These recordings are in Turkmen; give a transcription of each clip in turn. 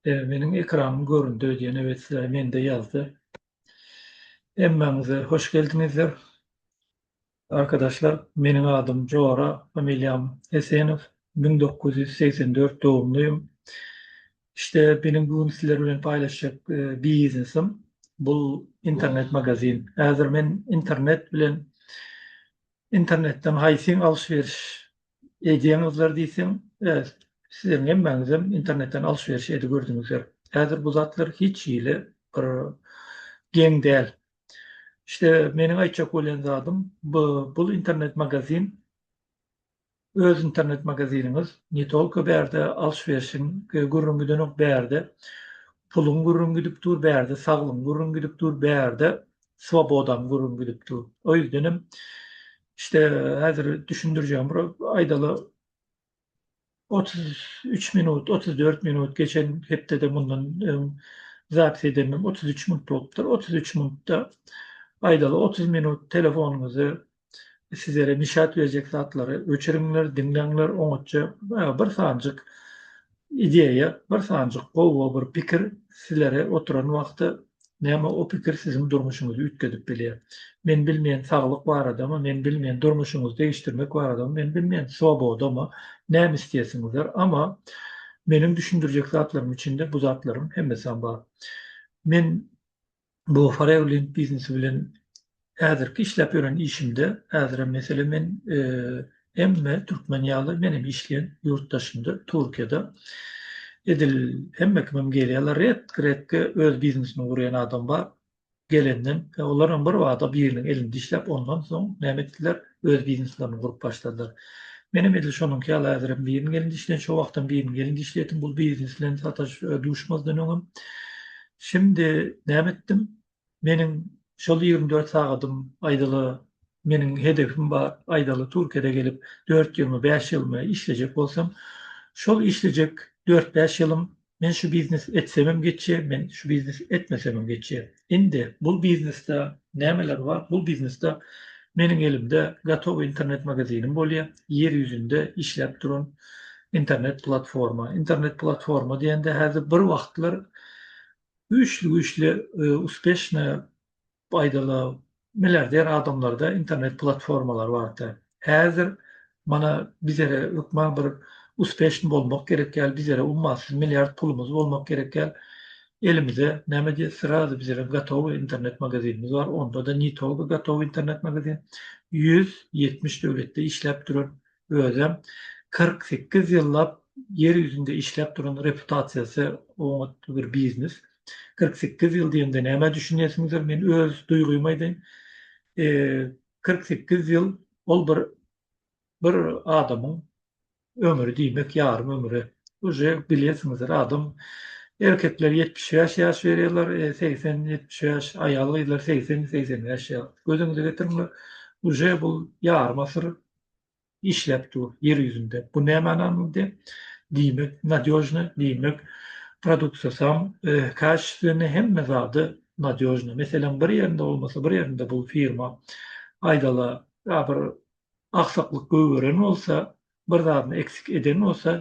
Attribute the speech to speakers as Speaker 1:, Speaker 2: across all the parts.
Speaker 1: Eee meniň ekranym göründi öýdýän ewe sizä mende ýazdy. Hemmäňize hoş geldiňizler. Arkadaşlar meniň adym Jora familiýam Hesenow müň dokuz ýüz segsen dört dogumluyum işte beniň bu gün sizler bilen paýlaşjak biznesim bul internet magazin häzir men internet bilen internetden haýsyn alş beriş edýäňizler diýseň sizleriň hemmäňizem internetden alş beriş edip gördüňizler häzir bu zatlar hiç hili bir geň däl İşte meniň aýtjak bolýan zadym bu bul internet magazin öz internet magaziniňiz ne tolko bärde alş-berşiň gürrüň gidenok bärde puluň gürrüň gidip dur bärde saglygyň gürrüň gidip dur bärde swobodaň gürrüň gidip dur. O ýüzdenem işte häzir düşündirjegim bir aýdaly Otuz üç minut, otuz dört minut geçen hepdede mundan öň zapis edendim, otuz üç minut bolupdyr. Otuz üç minutda, aýdaly, otuz minut telefonyňyzy sizere nişat berjek zatlary öçüriňler, diňläňler, oňatja bir sanjyk ideýa, bir sanjyk gowy bir pikir sizlere oturan wagty Näme o pikir siziň durmuşyňyzy üýtgedip bilýär? Men bilmeýän saglyk baradamy, men bilmeýän durmuşyňyzy degişdirmek baradamy, men bilmeýän swobodamy, näme isleýärsiňizdir, ama meniň düşündirjek zatlarym içinde bu zatlaryň hemmesem bar. Men bu Farewlink biznesi bilen Häzirki işläp ýören işimde, häzirem meselem men hemme türkmen ýaly menem işleýän ýurt daşynda Türkiýede edil hemme kimem gelýärler redki redki öz biznesini gurýan adam bar gelenden e, olaram bir bada biriniň elinde işläp ondan soň näme etdiler öz bizneslerini gurup başladylar menem edil şonuňky ýaly häzirem biriniň elinde işleýän şo wagtam biriniň elinde işleýärdim bul biznes bilen sataş e, duşmazdan öňem şimdi näme etdim Meniň şol ýigrimi dört sagadym aýdaly meniň hedefim bar, aýdaly Türkiýede gelip dört ýylymy, bäş ýylymy işlejek bolsam, şol işlejek dört-bäş ýylym men şu biznes etsemem geçýär, men şu biznes etmesemem geçýär. Indi bul biznesde nämeler bar? Bul biznesde meniň elimde gatowy internet magazinim bolýar, ýer ýüzünde işläp duran internet platforma. Internet platforma diýende häzir bir wagtlar Güýçli güýçli uspeşne paýdaly milliarder adamlarda internet platformalary barka. Häzir mana bizere hökman bir uspeşn bolmak gerek ýaly bizere ummasyz milliard pulumyz bolmak gerek ýaly elimize näme diýe srazy bizerem gotowy internet magazinimiz bar onda da nitoga gotowy internet magazin ýüz ýetmiş döwletde işläp duran özem kyrk sekiz ýyllap ýer ýüzünde işläp duran reputasiýasy oňat bir biznes. Kyrk sekiz ýyl diýende nämä düşünýärsiňizdir, men öz duýgymy aýdaýyn. Kyrk sekiz ýyl ol bir bir adamyň ömri diýmek ýarym ömüre. Uje bilýärsiňizdir, adam erkekler ýetmiş bäş ýaş berýärler, segsen, ýetmiş bäş, aýal-gyzlar segsen, segsen bäş ýaş. Gözüňize getiriňler, uje bu ýarym asyr işläp dur ýer ýüzünde bu näme ananly diýip diýmek nadýožny diýmek produksasam kaştini hemme zady nadýožny meseleň bir ýerinde bolmasa bir ýerinde bu firma aýdala ýa bir aksaklyk gögeren bolsa bir zadyny eksik eden bolsa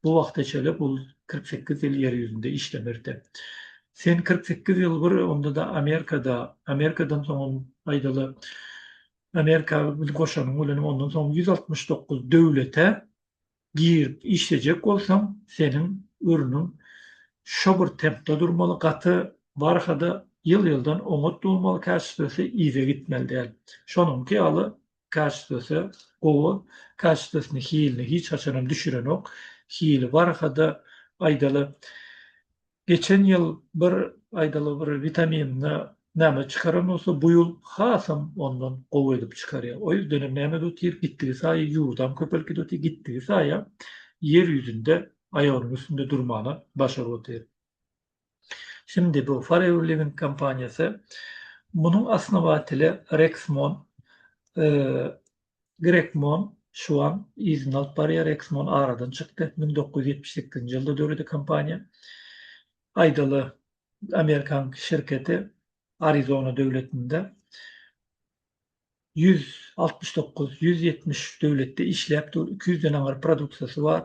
Speaker 1: bu wagta çelip ol kyrk sekiz ýyl ýer ýüzünde işlemerde sen kyrk sekiz ýyl bir onda-da amerikada amerikadan soňam aýdala Amerika bilen goşanyň bilen ondan soň ýüz altmyş dokuz döwlete girip işlejek bolsaň, seniň örnüň şo bir tempde durmaly, gaty barha-da ýyl-ýyldan oňat bolmaly, käşitdesi yza gitmeli däl. Şonuňky ýaly käşitdesi gowy, käşitdesini hilini hiç haçanam düşürenok, hili barha-da aýdaly Geçen ýyl bir aýdaly bir witaminini näme çykaran bolsa bu ýyl hasam ondan gowy edip çykarýar. O ýüzdenem näme edüpdir gitdigi saýy ýurdam köpelip gidüpdir gitdigi saýa ýer ýüzünde aýagynyň üstünde durmana başaryp otyr. Şindi bu Forever Living kompaniýasy munuň asnawatyly Rexmon Grekmon, Şuan, yzyny alyp barýar, Exmon aradan çykdy, müň dokuz ýüz ýetmiş sekizinji ýylda döredi kompaniýa. Aýdaly, amerikan şirketi Arizona döwletinde ýüz altmyş dokuz, ýüz ýetmiş üç döwletde işläp dur, iki ýüz den aňyr produksiýasy bar.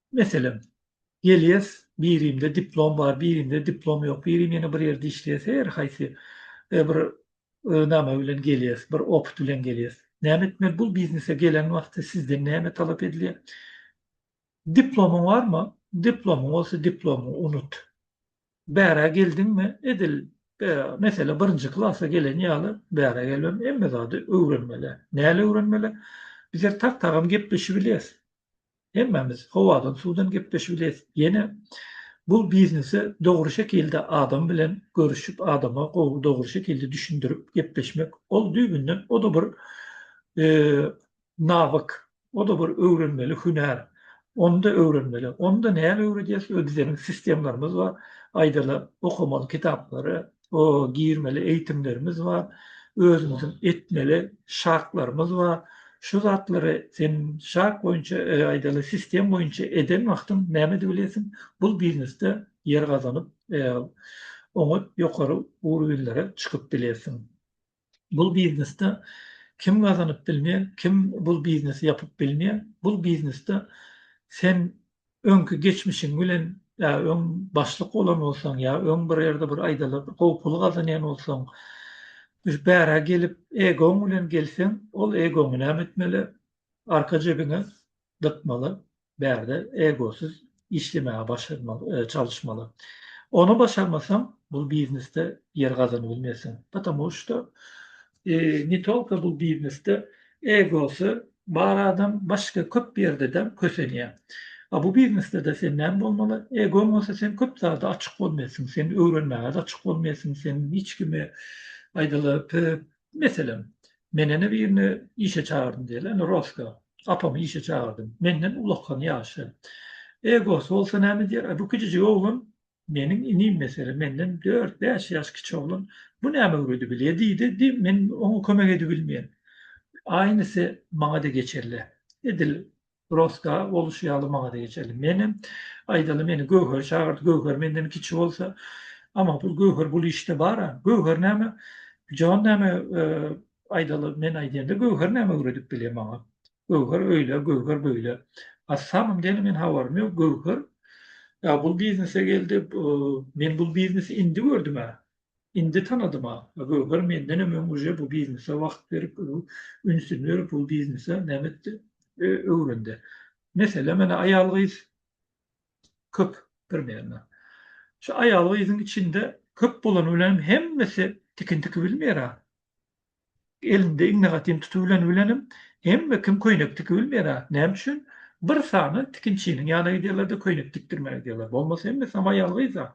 Speaker 1: Meselem, gelýäs, birimde diplom bar, birimde diplom ýok, birim ýene bir ýerde işleýär, her haýsy bir name bilen gelýäs, bir opyt bilen gelýäs. Näme etmeli? Bu biznese gelen wagty sizden näme talap edilýär? Diplomyň barmy? Diplomyň bolsa diplomy unut. Bärä geldiňmi? Edil meselem birinji klasa gelen ýaly bärä gelmeli, hemme zady öwrenmeli. Näle öwrenmeli? Bizler tak-tagam gepleşibilýäs. Hemmämiz howadan suwdan gepleşip bileris. Ýene bu biznese dogry şekilde adam bilen görüşip adama gowy dogry şekilde düşündirip gepleşmek ol düýbünden o-da bir nawyk, o-da bir öwrenmeli hünär. Onda öwrenmeli. Onda näme öwredýäs? Bizeniň sistemlarymyz bar. Aýdaly okamaly kitaplary, O girmeli eýtimlerimiz bar, özümiziň etmeli şartlarymyz bar. Şu zatlary sen şart boýunça, aýdaly, sistem boýunça eden wagtyň näme edip bilesiň? Bul biznesde ýer gazanyp, oňat ýokary urwinlere çykyp bilersiň. Bul biznesde kim gazanyp bilmeýär, kim bul biznesi ýapyp bilmeýär. Bul biznesde sen öňki geçmişiň bilen ýa öň başlyk bolan bolsaň ýa öň bir ýerde bir aýdalyp gowy pul gazanýan bolsaň düş bärä gelip egoň bilen gelseň ol egoňy näme etmeli arka jebiňe dykmaly, bärde egosyz işlemäge başarmaly, e, çalyşmaly. Ony başarmasaň, bul biznesde ýer gazanyp bilmersiň. Patamu şda e, ne tolka bul biznesde egosy bar adam başga köp ýerde-de kösenýär. A bu biznesde-de sen näme bolmaly? Egoň bolsa sen köp zada açyk bolmalysyň, sen öwrenmäge-de açyk bolmalysyň, sen hiç kime aýdaly, p, Meselem, men ene birini işe çagyrdym diýeli, ene Roska, apamy işe çagyrdym. Menden ulakan ýaşy. Egosy bolsa näme diýer? Aý, bu kijijik oglan meniň inim, meselem, menden dört-bäş ýaş kiçi oglan. Bu näme öwredi bilýä diýdi, diý, men oňa kömek edibilmeýän. Aýnysy maňa-da geçerli. Edil Roska boluşy ýaly maňa-da geçerli. Menem, aýdaly, meni Göwher çagyrdy, Göwher menden kiçi bolsa, Amma pul Göwher bul işde bar-a. Göwher näme, jan näme, aýdaly, men aýdýanda Göwher näme öwredip bilýä maňa. Göwher öýle, Göwher beýle. A samym däl men habarym ýok, Göwher bul biznese geldi, men bul biznesi indi gördüm-ä. Indi tanadym-a. A Göwher mendenem öň uje bu biznese wagt berip, ünsüni berip bu biznese näme etdi? Öwrendi. Mesele menä aýal-gyz köp birmenä. Şu aýal-gyzyň içinde köp bolany bilenem hemmesi tikin tikibilmeýär-a. Elinde iňňe gatyn tutubylany bilenem hemme kim köýnek tiki bilmeýär-ä. Näme üçin? Bir sany tikinçiniň ýanyna gidýärler-de köýnek tikdirmäge gidýärler. Bolmasa hemmesi ham aýal gyz-a.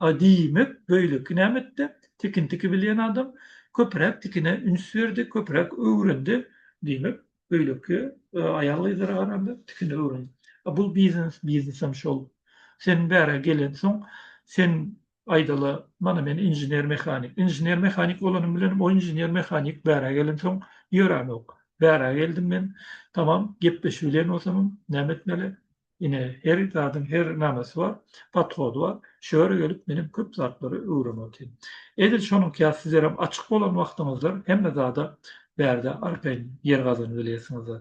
Speaker 1: A diýmek, beýleki näme etdi? Tikin tiki bilýän adam köpräk tikine üns berdi, köpräk öwrendi. Diýmek, beýleki aýal gyzlara garanda tikini öwrendi. A bu biznes, biznesem şol. Seniň bära gelensoň, sen Aýdaly, mana men inžener-mehanik. Inžener-mehanik bolanym bilenem o inžener-mehanik bärä gelensoň ýöranok. Bärä geldim men, tamam, gepleşip bilen bolsamam, näme etmeli? Ine, her zadyň her namesi bar, podhody bar. Şo ýere gelip menem köp zatlary öwrenip otyryn. Edil şonuňka sizlerem açyk bolan wagtyňyzda hemme zada bärde arkaýyn ýer gazanyp bilersiňizler.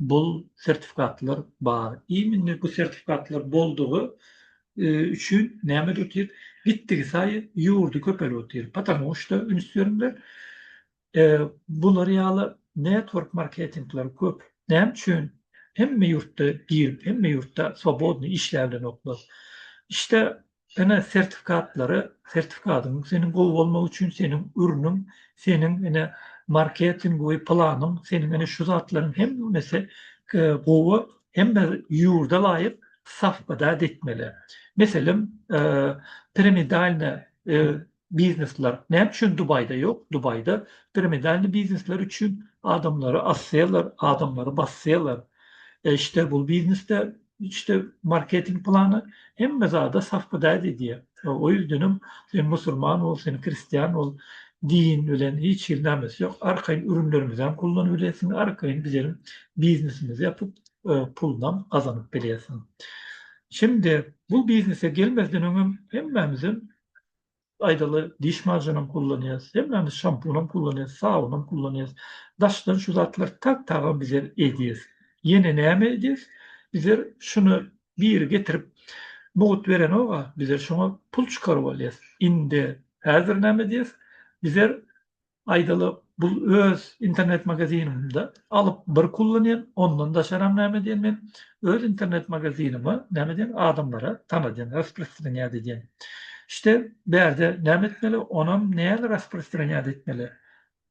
Speaker 1: bul sertifikatlar bar. Immini bu sertifikatlar boldugy üçin näme edip otyr? Gitdigi saýy ýurdy köpelip otyr. Patamu şda üns beriňler. Bular ýaly network marketingler köp. Näme üçin? Hemme ýurtda girip, hemme ýurtda swobodny işläbilenoklar. Şda ene sertifikatlary sertifikadyň seniň gowy bolmagy üçin seniň ürnüň seniň ene marketing we planyň seniň ene şu zatlaryň hemmesi gowy hemme ýurda laýyk safbada etmeli meselem piramidalne Biznesler näme üçin Dubaýda ýok? Dubaýda piramidalny biznesler üçin adamlary asýarlar, adamlary basýarlar. Eşde bu biznesde işte marketing plany hemme zada safbydayt edýär. O ýüzdenem sen musulman bol, sen kristian bol, din bilen hiç hili namesi ýok. Arkaýyn ürünlerimizem kullanyp bilesiň, arkaýyn bizem biznesimizi ýapyp, pulunam gazanyp bilýärsiň. Şimdi bu biznese gelmezden öňem hemmämizem Aýdaly, diş majenam kullanýas, hemmämiz şampunam kullanýas, sabunam kullanýas. Daşdan şu zatlar tag-tagam bizler edýäs. Ýene näme edýäs? Bizler şuny biri getirip mugt berenok-a, bizler şoňa pul çykaryp alýas. Indi häzir näme edýäs? Bizler Aýdaly, bu öz internet magazinimde alyp bir kullanýan, ondan daşaram näme edýän men, öz internet magazinime näme edýän adamlara tanadýan, rasprostranýat edýän. İşte bärde näme etmeli, onam näle rasprostranýat etmeli.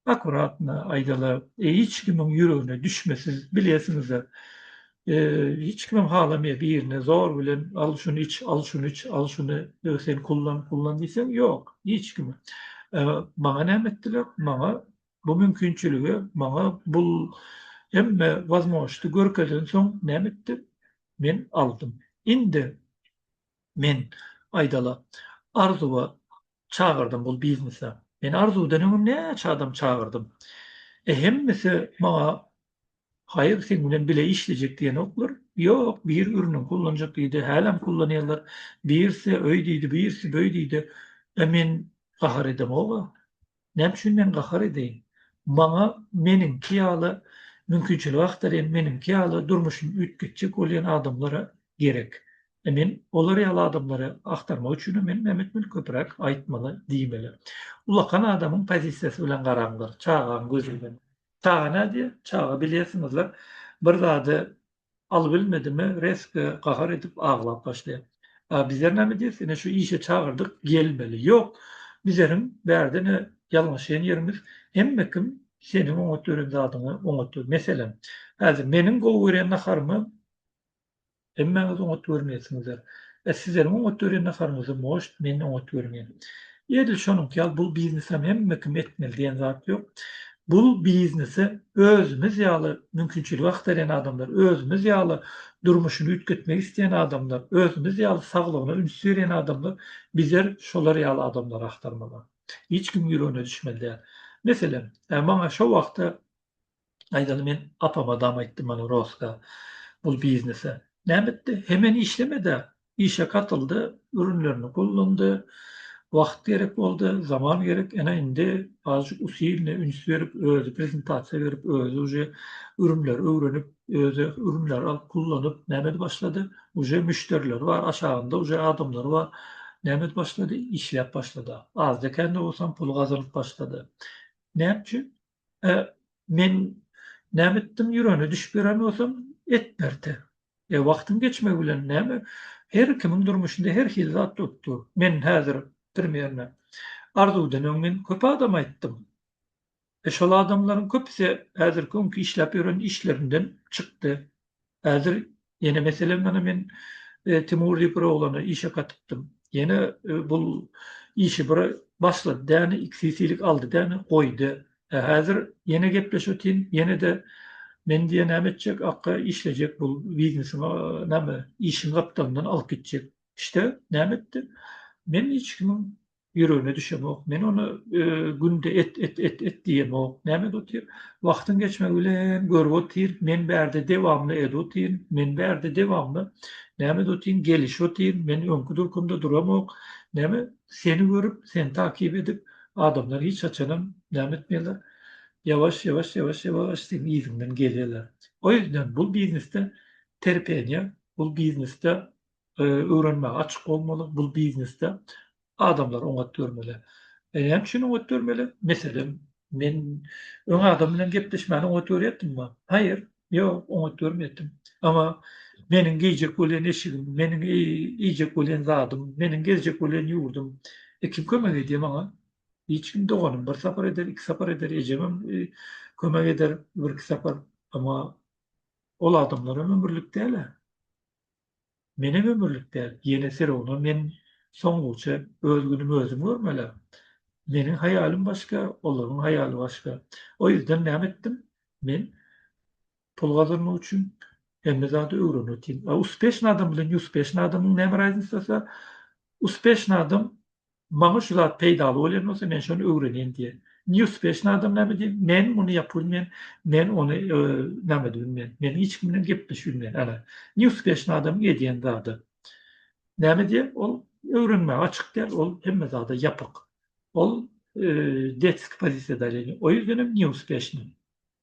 Speaker 1: Akuratno, aýdaly, hiç kimiň ýüregine düşmesiz, bilýäsiňizler, Hiç kimem halamaýar birine zor bilen al şuny iç, al şuny iç, al şuny sen kullan, kullan diýseň ýok, hiç kim. Maňa näme etdiler? Maňa bu mümkinçiligi, maňa bul hemme wazmožnosti görkezensoň näme etdim? Men aldym. Indi Men aýdaly Arzuwa çagyrdym bul biznese. Men Arzuwdan öňem näçe adam çagyrdym. E hemmesi maňa Haýyr seň bilen bile işlejek diýenoklar. Ýok, biri biriniň kullanjak diýdi, hälem kullanýarlar. Birisi öý diýdi, birisi böý diýdi. E men gahar edemog-a. Näme üçin men gahar edeýin? Maňa meniňki ýaly mümkinçilik agtarýan, meniňki ýaly durmuşyny üýtgetjek bolýan adamlar gerek. Men olar ýaly adamlary agtarmak üçinem men näme etmeli? Köpräk aýtmaly, diýmeli. Ulakan adamyň pozisiýasy bilen garaňlar, çagaň gözi bilen. Çaga nädýär? Çaga bilýärsiňizler, bir zady Alybilmedimi, resga gahar edip aglap başlaýar. A bizer näme diýer, seni şu işe çagyrdyk, gelmeli. Ýok, bizeriň bärde-ne ýalňyşýan ýerimiz, hemme kim seniň oňat gören zadyňy oňat gör. Meselem, häzir meniň gowy görýän naharymy hemmäňiz oňat görmeýärsiňizler. E sizeriň oňat görýän naharyňyzam goşt, meni oňat görüň-ä. Edil şonuňky ýaly bul biznesem hemme kim etmeli diýen zat ýok. Bul biznese özümiz ýaly mümkinçiligi agtarýan adamlar, özümiz ýaly durmuşyny üýtgetmek isleýän adamlar, özümiz ýaly saglygyna üns berýän adamlar bizer şolar ýaly adamlary agtarmaly. Hiç kimiň ýüregine düşmeli däl. Meselem, maňa şo wagta Aýdaly men apama dam aýtdym mana Roska bul biznese. Näme etdi? Hemen işlemedi-ä. Işe katyldy, ürünlerini gollandy. Wagt gerek boldy, zaman gerek. Ene indi azajyk usilne üns berip, özi prezentasiýa berip, özi uje ürünleri öwrenip, özi ürünleri alyp gullanyp näme edip başlady? Uje müşderileri bar, aşagynda uje adamlary bar. Näme edip başlady? Işläp başlady-a. Azda-kände bolsam pul gazanyp başlady. Näme üçin? E, men näme etdim, ýürene düşüp ýören bolsam, et berte. E, wagtyň geçmegi bilen näme, her kimiň durmuşynda her hili zat bolup dur. Men häzir, primerno, Arzuwdan öň men köp adama aýtdym. E, şol adamlaryň köpüsi häzirki öňki işläp ýören işlerinden çykdy. Häzir ýene meselem mana men Timur diýip bir oglany işe katypdym. Ýene bul işi bir başlady däne, iki sisilik aldy däne, goýdy. Häzir ýene gepleşetin, ýene-de men diýe näme etjek, akga işlejek bul biznesiň näme işiň gapdalyndan alyp gitjek. İşte näme etdi? Men hiç kimiň ýüregine düşemok. Men ony günde et, et, et, et diýemok. Näme edip otyr? Wagtyň geçmegi bilen görüp otyr, men bärde dewamly edip otyryn, men bärde dewamly näme edip otyryn, gelişip otyryn, men öňki durkumda duramok. Näme, seni görüp, seni takyp edip, adamlar hiç haçanam näme etmeýärler, ýawaş, ýawaş, ýawaş, ýawaş seniň yzyňdan gelýärler. O ýüzden bu biznesde terpeniýe, bu biznesde Öwrenmäge açyk bolmaly, bul biznesde adamlar oňat görmeli. Näme üçin oňat görmeli? Meselem, men öň adam bilen gepleşmäni oňat görýärdim-ma? Haýyr, ýok, oňat görmeýärdim. Emma meniň geýjek bolýan eşigim, meniň iýjek bolýan zadym, meniň gezjek bolýan ýurdum, e, kim kömek edýär maňa? Hiç kim, doganym bir sapar eder, iki sapar eder, ejemem kömek eder birki sapar. Emma ol adamlar hem ömürlik däl-ä. Menem ömürlik däl, ýene Firownam men soňguça öz günümi özüm görmelä. Meniň haýalym başga, olaryň haýaly başga. O ýüzden näme etdim? Men pul gazanmak üçin hemme zady öwrenýotyn. A uspeşny adam bilen neuspeşny adamyň näme raznisasyar? Uspeşny adam Maňa şu zat peýdaly bolýan bolsa, men şony öwrenýin diýen. Neuspeşny adam näme diýen, men muny ýapybilmen, men ony näme edibilmen, men hiç kim bilen gepleşibilmen. Ana, neuspeşny adamyň edýän zady. Näme diýen, ol öwrenmäge açyk däl, ol hemme zada ýapyk. Ol detski pozisiýada, o ýüzden hem neuspeşni.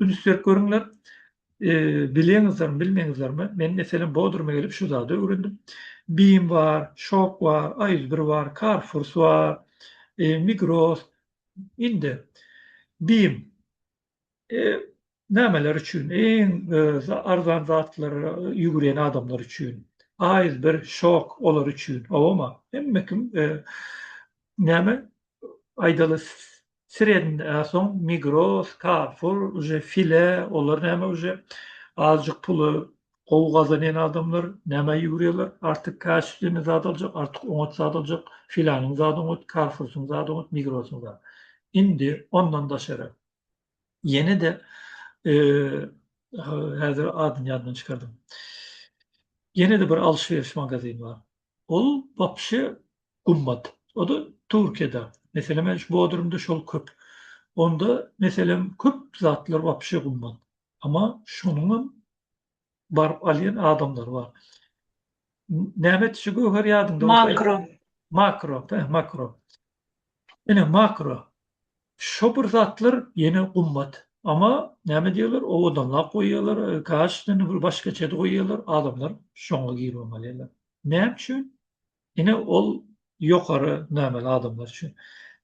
Speaker 1: Üns berip görüňler. Bilýäňizlermi, bilmeýiňizlermi? Men meselem Bodruma gelip şu zady öwrendim. Bim bar, Şok bar, A101 bar, Carrefour bar, Migros. Indi Bim nämeler üçin iň arzan zatlara ýüwürýän adamlar üçin. A101, Şok olar üçin. Howama hemme kim näme aýdaly Srednde a soň migros, karfur uje file olar näme uje azjyk pula gowy gazanýan adamlar nämä ýüwrýärler artyk kaşiflini zat aljak artyk oňat zat aljak filanyň zady oňat karfursyň zady oňat migrosyň zady indi ondan daşary ýene-de häzir adyny ýadymdan çykardym ýene-de bir alşweriş magazini bar Ol wapşe gummat. O-da Türkiýede. Meselem, men şu Bodrumda şol köp. Onda, meselem, köp zatlar wapşe gummat. Emma şonuň hem baryp alýan adamlary bar. Näme etdi şu göwher ýadyňda bolsa aýt.
Speaker 2: Makro. Makro, hä,
Speaker 1: makro. Ine makro şo bir zatlar ýene gummat ama name diýerler owadanlap goýýarlar kaş indi bir başgaçady goýýarlar adamlar şoňa giribem alýarlar näme üçin ine ol ýokary nameli adamlar üçin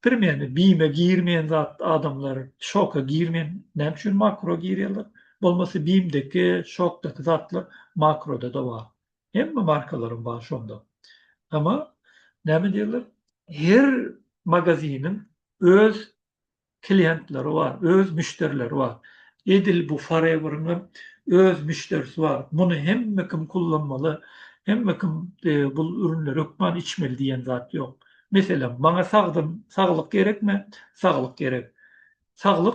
Speaker 1: primerne bime girmeýän zat adamlar şoka girmeýän näme üçin makro girýärler bolmasa bimdeki şokdaky zatlar makrodada bar Hemme markalaryň bar şonda. Emma näme diýerler? Her magaziniň öz klientleri bar, öz müşderileri bar. Edil bu Forever-iň hem öz müşderisi bar. Muny hemme kim kullanmaly, hemme kim bu ürünleri hökman içmeli diýen zat ýok. Meselem, maňa sagdyn, saglyk gerekmi? Saglyk gerek. Saglyk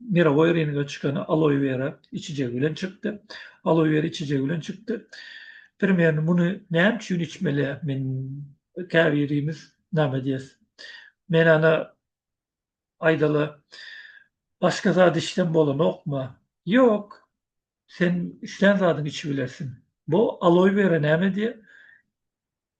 Speaker 1: mirowoý ringe çykan aloewera içijegi bilen çykdy. Aloewera içijegi bilen çykdy. Premýerni muny näme üçin içmeli? Men käbirimiz name diýes. Men ana aýdaly başga zat içsem bolanokmy? Ýok. Sen üçlän zadyň içibilersiň. Bu aloewera näme diýe?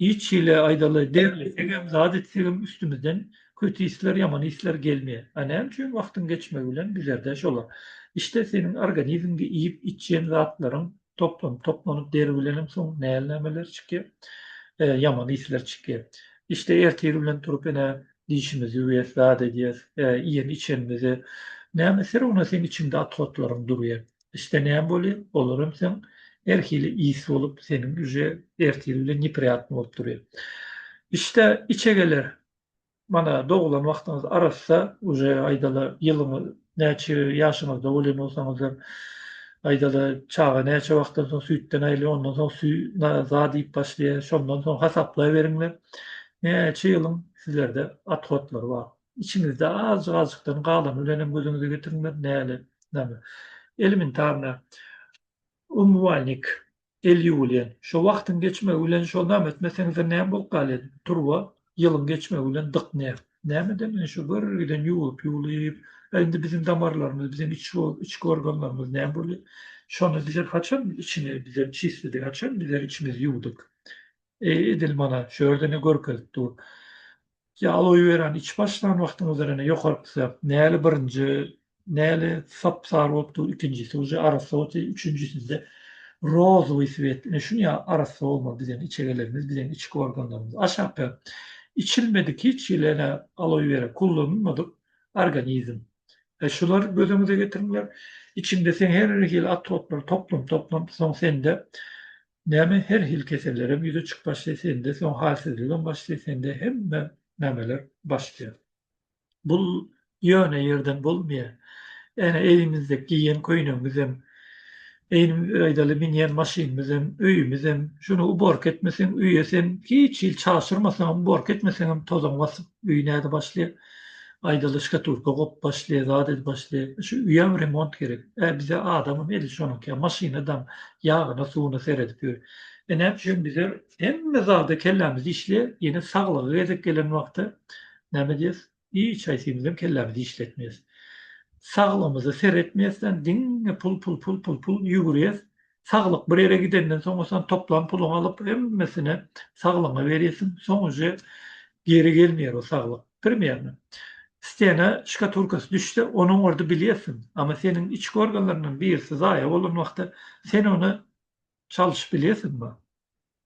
Speaker 1: Hiç hili aýdaly degli egem zat etsegem üstümizden köti isler ýaman isler gelmeýä a näme üçin wagtyň geçmegi bilen düzerdä şolar işte seniň organizmge iýip içýen zatlaryň toplanyp toplanyp deri bilenem soň näl nämeler çykýa ýaman isler çykýa işte ertir bilen turup ene dişimizi ýuwyas zat edýäs iýen içenimizi näme syr ona seň içiňde atkotlaryň durýa Isle näme bolýa olaram sen her hili is bolup seniň uje ertiri bilen nepriyatny bolup durýa. Isle içegeler mana dogulan wagtyňyz arassa uje aýdala ýylyňyz näçe ýaşyňyzda bolýan bolsaňyzam aýdala çaga näçe wagtdan soň süýtden aýrylýa ondan soň süý na zat iýip başlaýa şondan soň hasaplaýberiňler näçe ýylyň sizlerde athotlary bar. Içiňizde azjyk-azjykdan galany bilenem gözüňize getirmez, näle, name. Elementarna, umywaýnik, el ýuwulýan. Şo wagtyň geçmegi bilen şo name etmeseňizem näme bolup galýar? Turba ýylyň geçmegi bilen dyk ne. Nämeden bilen şo gürr giden ýuwlup-ýuwlup, a indi biziň damarlarymyz, biziň içki organlarymyz näme bolýar? Şony bize haçan içini bize çisledi, haçan bize içimizi ýuwduk? Edil mana şu ýerde-ne görkezip dur. Ýalowy beren içip başlan wagtyňyzda rene ýokaryp düşäp näli birinji näli sap sary bolup dur ikinjisi uje arassa bolup üçünjisinde rozowy swet ine şuny ýa arassa bolmaly bizeň içe gelenimiz bizeň içki organlarymyz aşakda içilmedik hiç hili ene aloý bera kullanylmadyk organizm e şular göz öňüňize getiriňler içinde sen her hili atroplary toplam toplam soň sende Näme her hil kesellerem ýüze çyk başlaý sende soň halsizligem başlaý sende hemme nämeler başlaýar. Bul ýöne ýerden bolmaýa. Ene eýimizde geýen köýnegimizem eýni aýdaly minýän maşynymyzem öýümizem şuny uborka etmeseň öýe sen hiç hil çaşyrmasaňam uborka etmeseňem tozaň basyp öýi näde başlaýar. Aýdalyşka turka gop başly, zat ed başly. Şu uýam remont gerek. Ä bize adamam edil şonuňka, maşyna daň, ýagyna, suwuna seredip ýör. Ene üçin bize hemme zada kellämizi işleýär, ýene saglygy gezek gelen wagty näme diýýäs, hiç haýsymyzam kellämizi işletmeýäs. Saglygymyza seretmeýäsdän diňe pul, pul, pul, pul, pul ýüwürýäs. Saglyk bir ýere gidenden soň sen toplan puluňy alyp hemmesini saglygyňa berýärsiň. Soň uje geri gelmeýär o saglyk. Primerno. Stena şkaturkasy düşse onuň ordy bilýärsiň. Ama seniň içki organlaryňdan birisi zaýa bolan wagty sen ony çalyşyp bilýärsiňmi?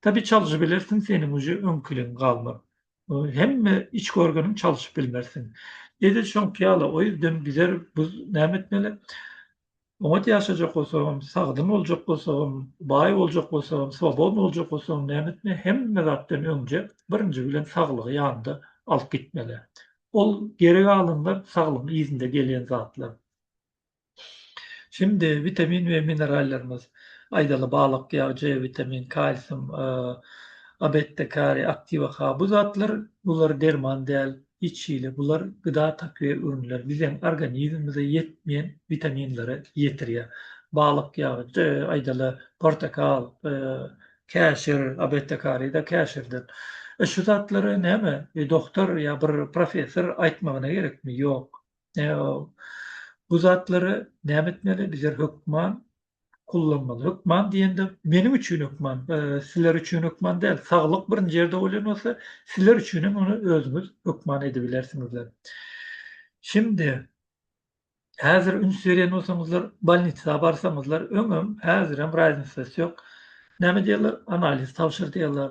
Speaker 1: Tabi çaljy bilersiň seniň uje öňkiligiň galmaz. Hemme iç görgeniň çalşyp bilmersiň. Edil şoňky ýaly o ýerden gider biz näme etmeli? Oňat ýaşajak bolsagam, sagdyn boljak bolsagam, baý boljak bolsagam, swobodny boljak bolsagam näme etmeli? Hemme zatdan öňje birinji bilen saglygy ýanynda alyp gitmeli. Ol geri galanlar saglygyň yzynda gelýän zatlar. Şimdi witamin we minerallarymyz, aýdaly balyk ýagy, C witamin, kalsium, A, beta, kariý, aktiwa K, bu zatlar, bular derman däl, hiç hili, bular gyda takviýe önümleri, biziň organizmimize ýetmeýän witaminleri ýetirýär. Balyk ýagy, C, aýdaly portakal, käşir, A, beta, kariý-de käşirden. E, şu zatlary näme, dogtor ýa bir professor aýtmagyna gerekmi? Ýok. Bu zatlary näme etmeli? Bizler hökman kullanmaly. Hökman diýende meniň üçin hökman, sizler üçin hökman däl. Saglyk birinji ýerde bolýan bolsa, sizler üçin hem ony özüňiz hökman edibilersiňizler. Şimdi häzir üns berýän bolsaňyzlar, bolnitsa barsaňyzlar, öňem, häzirem raýznisasyýok. Näme diýerler? Analiz tabşyr diýerler.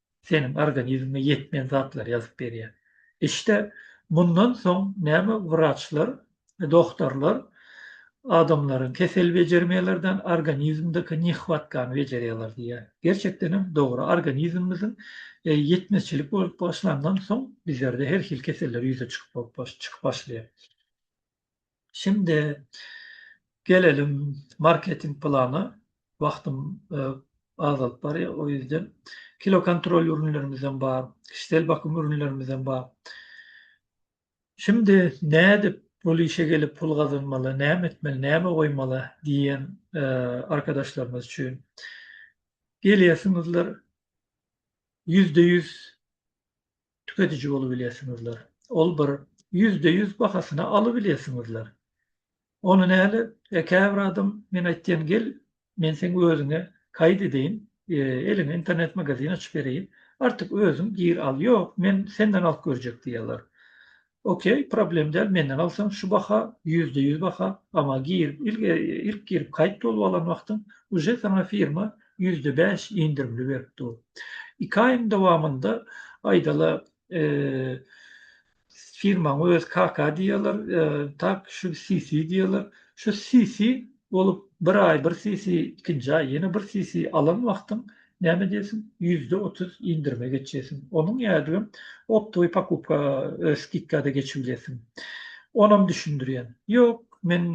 Speaker 1: seniň organizmiňe ýetmeýän zatlary ýazyp berýär. Işde mundan soň näme wraçlar, dogtarlar adamlaryň kesel bejermeýlerden organizmdeki nehwatkany bejerýärler diýýär. Gerçekdenem dogry organizmimiziň ýetmezçilik bolup başlandan soň bizlerde her hili keseller ýüze çykyp bolup çykyp başlaýar. Şimdi gelelim marketing plana. Wagtym azalyp barýar, o ýüzden. Kilo kontrol ürünlerimizem bar, kişisel bakym ürünlerimizem bar. Şimdi nädip bul işe gelip pul gazanmaly, näme etmeli, näme goýmaly diýen arkadaşlarymyz üçin. Gelýärsiňizler, ýüzde ýüz tüketiji bolubilesiňizler. Ol bir ýüzde ýüz bahasyna alybilesiňizler. Ony näle käbir adam men aýtýan gel men seň özüňe kaýt edeýin eliňe internet magazin açyp bereýin artyk özüň gir al ýok men senden alyp görjek diýýärler. Ok problem däl menden alsaň şu baha ýüzde ýüz baha ama girip ilk girip kaýt bolup alan wagtyň uje saňa firma ýüzde bäş indirimli berip dur iki aýyň dowamynda aýdala firmaň öz KK diýýäler tak şu CC diýýäler şu CC bolup bir aý bir CC ikinji aý ýene bir CC alan wagtyň Näme diýersiň, ýüzde otuz indirime geçýärsiň. Onuň ýaly optowy pokupka skidkada geçip bilýärsiň. Onam düşündirýän. Ýok, men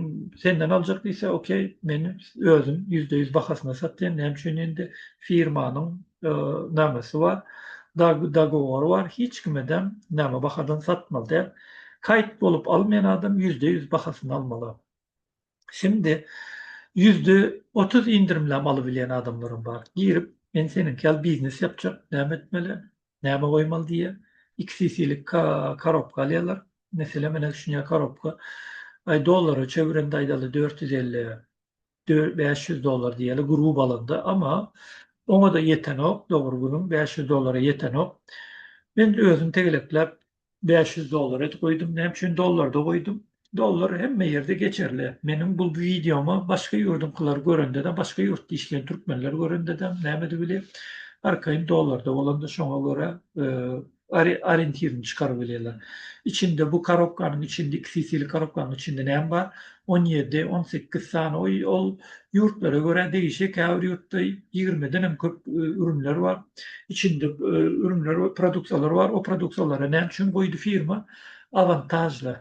Speaker 1: senden aljak diýse, okey, men özüm ýüzde ýüz bahasyna satýan, näme üçin indi firmanyň namesi bar, dogowory bar, hiç kimedem näme bahadan satmaly däl. Kaýt bolup almaýan adam ýüzde ýüz bahasyna almaly. Şimdi yüzde otuz indirimlem alyp bilen adamlarym bar. Girip men seniňki ýaly biznes ýapjak, näme etmeli, näme goýmaly diýe. Iki sisilik korobka alýarlar. Mesele menä düşünýär korobka. Aý dollara çevirende aýdaly dört ýüz elli, bäş ýüz dollar diýeli grup alanda, ama oňa-da ýetenok, dogry günüň bäş ýüz dollara ýetenok. Men özüm tegelekläp Bäş ýüz dollar edip goýdum. Näme üçin dollarda goýdum? Dollar hemme ýerde geçerli. Meniň bu wideomy başga ýurduňkylar görende-de, başga ýurtda işleýän türkmenler görende-de näme edip bilýär? Arkaýyn dollarda bolanda şoňa görä oriýentirini çykaryp bilýärler. Içinde bu korobkanyň içinde, iki sisili korobkanyň içinde näme bar? On ýedi, on sekiz sany oý ol ýurtlara görä degişli käbir ýurtda ýigrimiden hem köp ürünler bar. Içinde ürünler we produksiýalar bar. O produksiýalara näme üçin goýdy firma awantažly,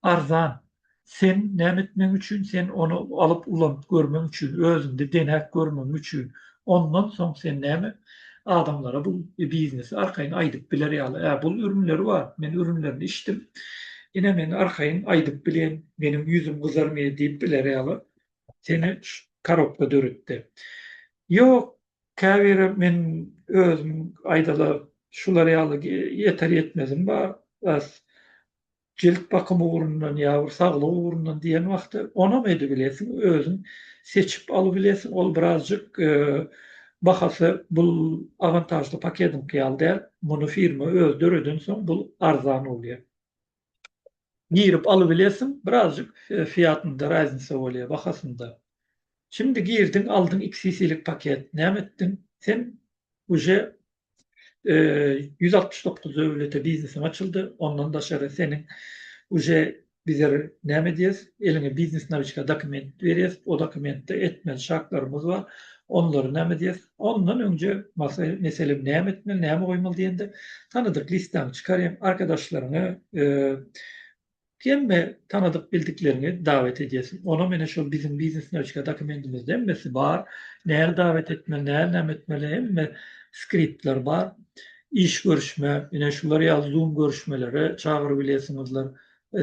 Speaker 1: arzan. Sen näme etmek üçin, sen ony alyp ulanyp görmek üçin, özüňde deňäp görmek üçin. Ondan soň sen näme adamlara bu biznesi arkaýyn aýdyp biler ýaly, ä bul ürünleri bar, men ürünlerini içdim, ine men arkaýyn aýdyp bilýän, meniň ýüzüm gyzarmaýar diýip biler ýaly seni korobka döretdi. Ýok, käbiri men özüm aýdalar şular ýaly ýeter-ýetmezim bar, Jilt bakymy ugrundan ýa bir saglyk ugrundan diýen wagty onam edibilesiň, özüň seçip alybilesiň. Ol birazjyk bahasy bul awantažly paketiňki ýaly däl. Muny firma özi döredensoň bul arzan bolýar. Girip alybilesiň, birazjyk fiýatynda raznica bolýar, bahasynda. Şimdi girdiň, aldyň iki sisilik paket. Näme etdiň? Sen uje ýüz altmyş dokuz döwlete biznesiň açyldy, ondan daşary seniň uje bizir näme edýäs, eliňe biznes nawiçka dokument berýäs, o dokumentde etmeli şartlarymyz bar, onlary näme edýäs, ondan öňje meselem näme etmeli, näme goýmaly diýende tanadyk listaňy çykaryň, arkadaşlaryňy Hemme tanadyk bildikleriňi dawet edýärsiň. Onam ene şol biziň biznes newçika dokumendimizde hemmesi bar. Näl dawet etmeli, näl näme etmeli hemme skriptler bar. Iş görüşme, ene şular ýaly zoom görüşmelere çagyryp bilesiňizler.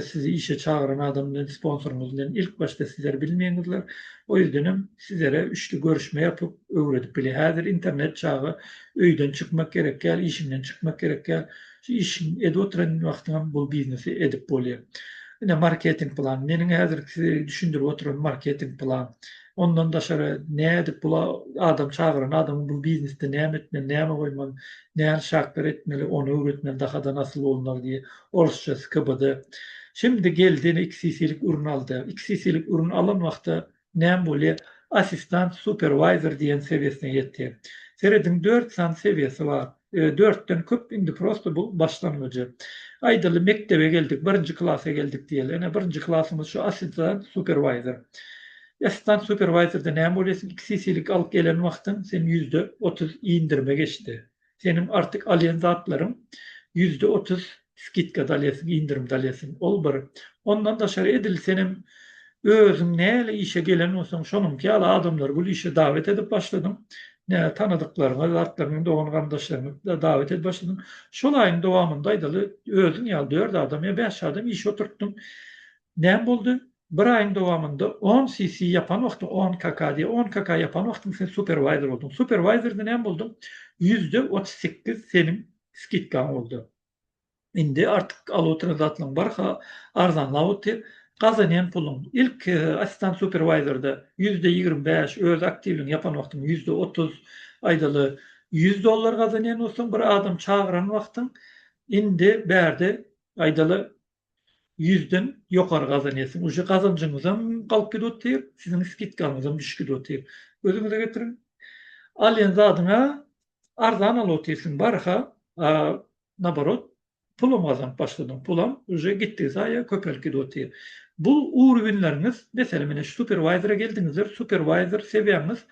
Speaker 1: Sizi işe çagyran adam bilen sponsoryňyz bilen ilk başda sizler bilmeýäňizler. O ýüzdenem sizlere üçli görüşme ýapyp öwredip bilýär. Häzir internet çagy öýden çykmak gerek däl, işiňden çykmak gerek däl. Şu işiň edip oturan wagtyňam bul biznesi edip bolýar. Ine marketing plan. Meniň häzirki size düşündirip oturan marketing plan. Ondan daşary nädip bul adam çagyran adamyň bul biznesde näme etmeli, näme goýmaly, nähili şartlar etmeli, ony öwretmeli dahada nasyl bolunmaly diýe. Orsça skbd. Şimdi geldi ine iki cclik ürün aldy. Iki cclik ürün alan wagty Näme bolýa? Assistant supervisor diýen sebiýesine ýetýä. Serediň dört sany sebiýesi bar. Ýöne dörtden köp indi prosta bu başlangyjy. Aýdaly mekdebe geldik, birinji klasa geldik diýeli. Ene birinji klasymyz şu assistant supervisor. Assistant supervisorda näme bolýa sen iki cc-lik alyp gelen wagtyň sen ýüzde otuz indirime geçdi. Seniň artyk alýan zatlaryň ýüzde otuz skidkada alýasyň, indirmde alýasyň. Ol bir. Ondan daşary edil senem özüň näle işe gelen bolsaň, şonuňky ýaly adamlary gul işe dawet edip başladyň. Nä tanadyklaryňy, zatlaryňy, dogan-garyndaşlaryňy dawet edip başladyň. Şol aýyň dowamynda aýdaly özüň ýaly dört adam ýa bäş adam işe oturtdyň. Näme boldy? Bir aýyň dowamynda on CC ýapan wagtyň on KK diýe on KK ýapan wagtyň sen superwayzer bolduň superwayzerde näme bolduň ýüzde otuz sekiz seniň skidkaň boldy indi artyk aluw tranzaksylaň barha arzanlap otyr gazanýan puluň ilk assistant superwayzerde ýüzde ýigrimi bäş öz aktiwligiňi ýapan wagtyň ýüzde otuz aýdaly ýüz dollar gazanýan bolsaň bir adam çagyran wagtyň indi bärde aýdaly ýüzden ýokary gazanýarsyň. Uje gazanjyňyzam galyp gidip otyr, siziň skidkaňyzam düşüp gidip otyr. Özüňize getiriň. Alýan zadyňa arzan alyp otyrsyň barha, a naborot pulam gazanyp başladyň, pulam uje gitdigi saýa köpelip gidip otyr. Bu urwinleriňiz, meselem ine şu superwaýzera geldiňizler, superwaýzer sewiýaňyz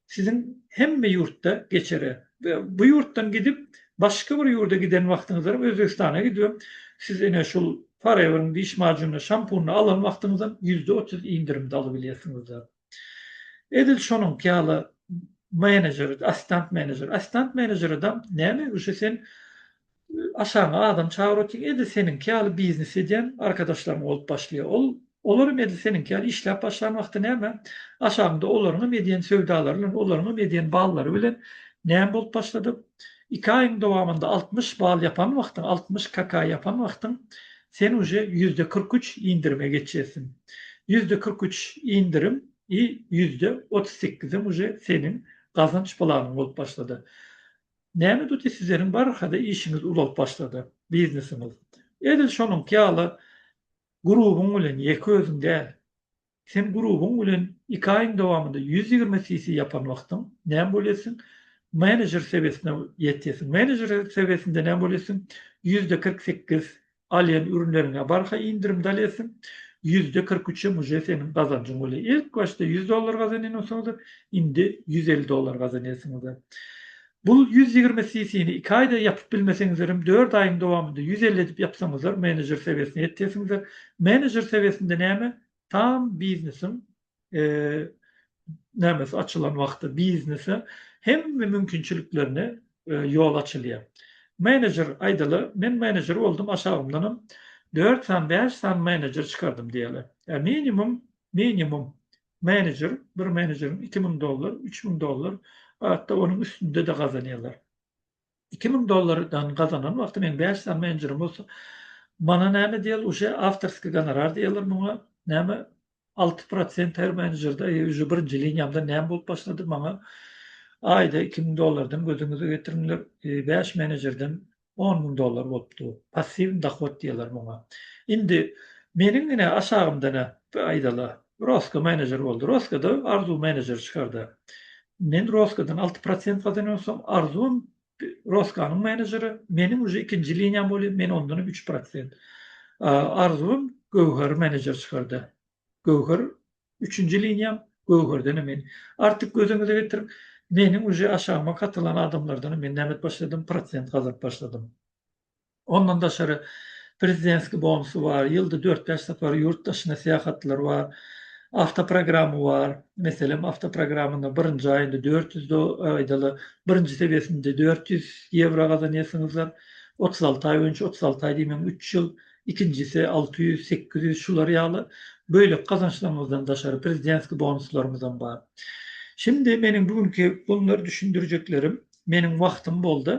Speaker 1: siziň hemme ýurtda geçere. Bu ýurtdan gidip başga bir ýurda giden wagtyňyzam Özbegistana gidibem siz ine şul Forever-iň diş majunyny, şampunyny alan wagtyňyzam ýüzde otuz indirimde alybilýärsiňiz. Edil şonuňky ýaly menejer, assistant menejer. Assistant menejeredam näme ýögüşe sen Aşagyňa adam çagyr otyň edil seniňki ýaly biznes edýän arkadaşlaryň bolup başlaýar. Ol olaram edil seniňki ýaly işläp başlan wagty näme? Aşagyňda olaryňam edýän söwdalary bilen, olaryňam edýän ballary bilen näme bolup başladyp? Iki aýyň dowamynda altmyş ball ýapan wagtyň, altmyş KK ýapan wagtyň sen uje ýüzde kyrk üç indirime geçersiň. Ýüzde kyrk üç indirim i ýüzde otuz sekizem uje seniň gazanç planyň bolup başlady. Näme tuty sizleriň barhada işiňiz uzalyp başlady, biznesiňiz. Edil şonuňky ýaly grubyň bilen ýeke özüň däl. Sen grubyň bilen iki aýyň dowamynda ýüz ýigrimi sisi ýapan wagtyň näme bolýasiň? Menejer sewesine ýetýäsiň. Menejer sewesinde näme bolýasiň? Ýüzde kyrk sekiz Alýan ürünleriňe barha indirimde alýarsyň. Ýüzde kyrk üçem uje seniň gazanjyň bolýar. Ilk başda ýüz dollar gazanýan bolsaňyzar, indi ýüz elli dollar gazanýarsyňyzar. Bu ýüz ýigrimi CC-ni iki aýda ýapyp bilmeseňizlerem, dört aýyň dowamynda ýüz elli edip ýapsaňyzar, menejer sewiýesine ýetýärsiňizar. Menejer sewiýesinde näme? Tam biznesiň nämes açylan wagty biznese hemme mümkinçiliklerine ýol açylýar. Menejer aýdaly, men menejer boldum, aşagymdanam dört sany, bäş sany menejer çykardym diýeli. Ä minimum, minimum menejer, bir menejeriň iki müň dollar, üç müň dollar, hat-da onuň üstünde-de gazanýarlar. Iki müň dollardan gazanan wagty men bäş sany menjurym bolsa mana näme diýal uje awtorskiý gonorar diýerler muňa näme alty prosent her menjurda eý uje birinji liniýamdan näme bolup başlady maňa aýda iki müň dollardan gözüňize getiriňler bäş menejurdan on müň dollar bolupdy passiwny dohod diýerler muňa indi meniň ine aşagymda ne aýdala Roska menejer boldy. Roskada Arzuw menejer çykardy. Men Roskadan alty prosent gazanýansam, Arzuwam Roskanyň menejeri, meniň uje ikinji liniýam bolýar, men ondanam üç prosent. Arzuwam Göwheri menejer çykardy. Göwher üçünji liniýam, Göwherdenem men. Artyk gözüňize getiriň, meniň uje aşagyma katylan adamlardanam men näme edip başladym, prosent gazanyp başladym. Ondan daşary prezidentskiý bonusy bar, ýylda dört-bäş sapar ýurt daşyna syýahatlar bar, awtoprogramy bar, meselem, awtoprogramynyň birinji aýynda dört ýüz do, aýdaly, birinji sebesinde dört ýüz ýewro gazanýarsyňyzlar, otuz alty aý boýunça, otuz alty aý diýmeň, üç ýyl, ikinjisi alty ýüz, sekiz ýüz, şular ýaly. Beýleki gazançlarymyzdan daşary prezidentskiý bonuslarymyzam bar. Şindi meniň bu günki bolary düşündirjeklerim, meniň wagtym boldy.